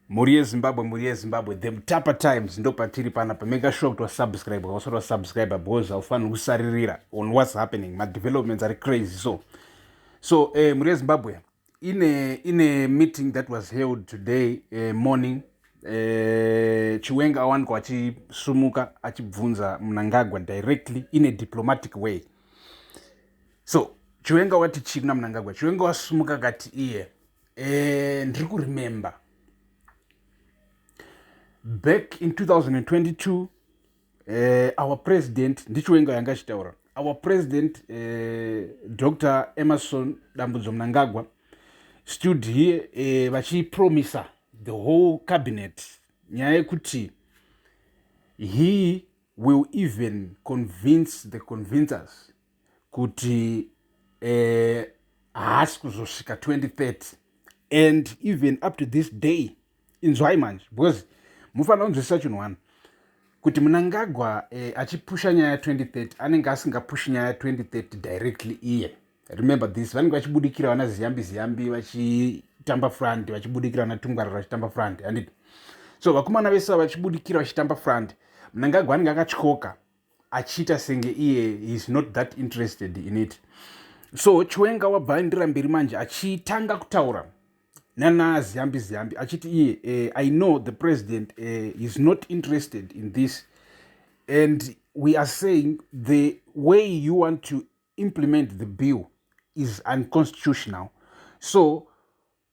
mhuri yezimbabwe mhuri yezimbabwe the mutapa times ndo patiri pana pameka sure kuti wasubscribe wausati wasubscribe because haufaniri kusaririra on whats happening madevelopments ari crazy so so eh, mhuri yezimbabwe ine ine meeting that was held today eh, morning eh, chiwenga awanikwa achisumuka achibvunza munangagwa directly in a diplomatic way so chiwenga wati chii kuna munangagwa chiwenga wasumuka kati iye yeah. eh, ndiri kuremember back in 2022 eh, our president ndichiwenga yanga achitaura our president eh, dr emerson dambudzo mnangagwa stood here eh, vachipromisa the whole cabinet nyaya yekuti he will even convince the convincers kuti eh, haasi kuzosvika 2030 and even up to this day inzwai manje because mufanira kunzwisisa chinhu wani kuti munangagwa eh, achipusha nyaya ya 2030 anenge asingapushi nyaya ya 2030 directly iye remember this vanenge vachibudikira vana ziyambi ziyambi vachitamba front vachibudikira vana tungwarira vachitamba front handiti so vakomana vese vachibudikira vachitamba front munangagwa anenge akatyoka achiita senge iye heis not that interested in it so chiwenga wabva aindira mberi manje achitanga kutaura nanaziyambi ziyambi achiti iye eh, i know the president eh, heis not interested in this and we are saying the way you want to implement the bill is unconstitutional so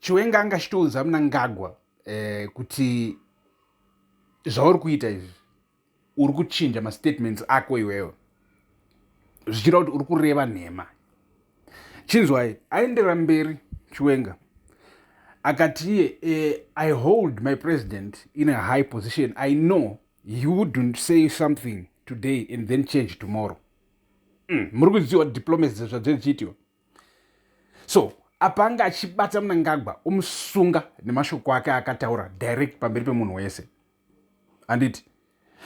chiwenga anga chitoudza munangagwa eh, kuti zvauri kuita izvi uri kuchinja mastatements ako iwewe zvichira kuti uri kureva nhema chinzwai aendera mberi chiwenga akati iye eh, i hold my president in a high position i know he wouldn't say something today and then change tomorrow mm, muri kuziwa diplomacy zvadziri chiitiwa so apa anga achibata munangagwa omusunga nemashoko ake akataura direct pamberi pemunhu wese handiti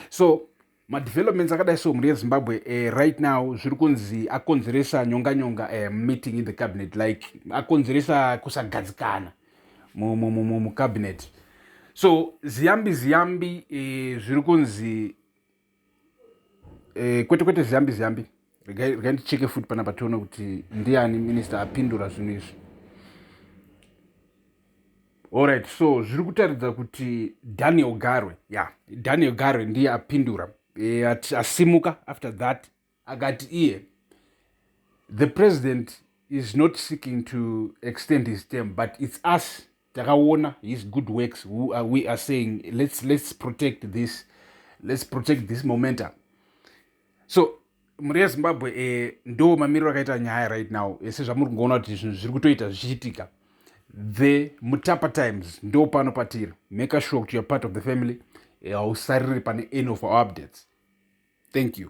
so madevelopments akadai sehumuri yezimbabwe uh, right now zviri kunzi akonzeresa nyonga nyonga uh, eh, meeting in the cabinet like akonzeresa kusagadzikana mucabinet so ziyambi ziyambi uh, zviri kunzi Eh, kwete kwete ziyambi ziyambi regai ndicheke futi panapa tione kuti ndiani minista apindura zvinhu izvi allright so zviri kutaridza kuti daniel garwe ya yeah. daniel garwe ndiye apindura e, asimuka after that akati iye the president is not seeking to extend his term but it's us takaona his good works who are, we are saying let's, let's protect this let's protect this momentum so mhuri yezimbabwe eh, ndo mamiriro akaita nyaya right now ese eh, zvamuri kungoona kuti zvinhu zviri kutoita zvichiitika the mutapa times ndo pano patiri make sure kuti youare part of the family eh, hausariri eh, pane any of our updates thank you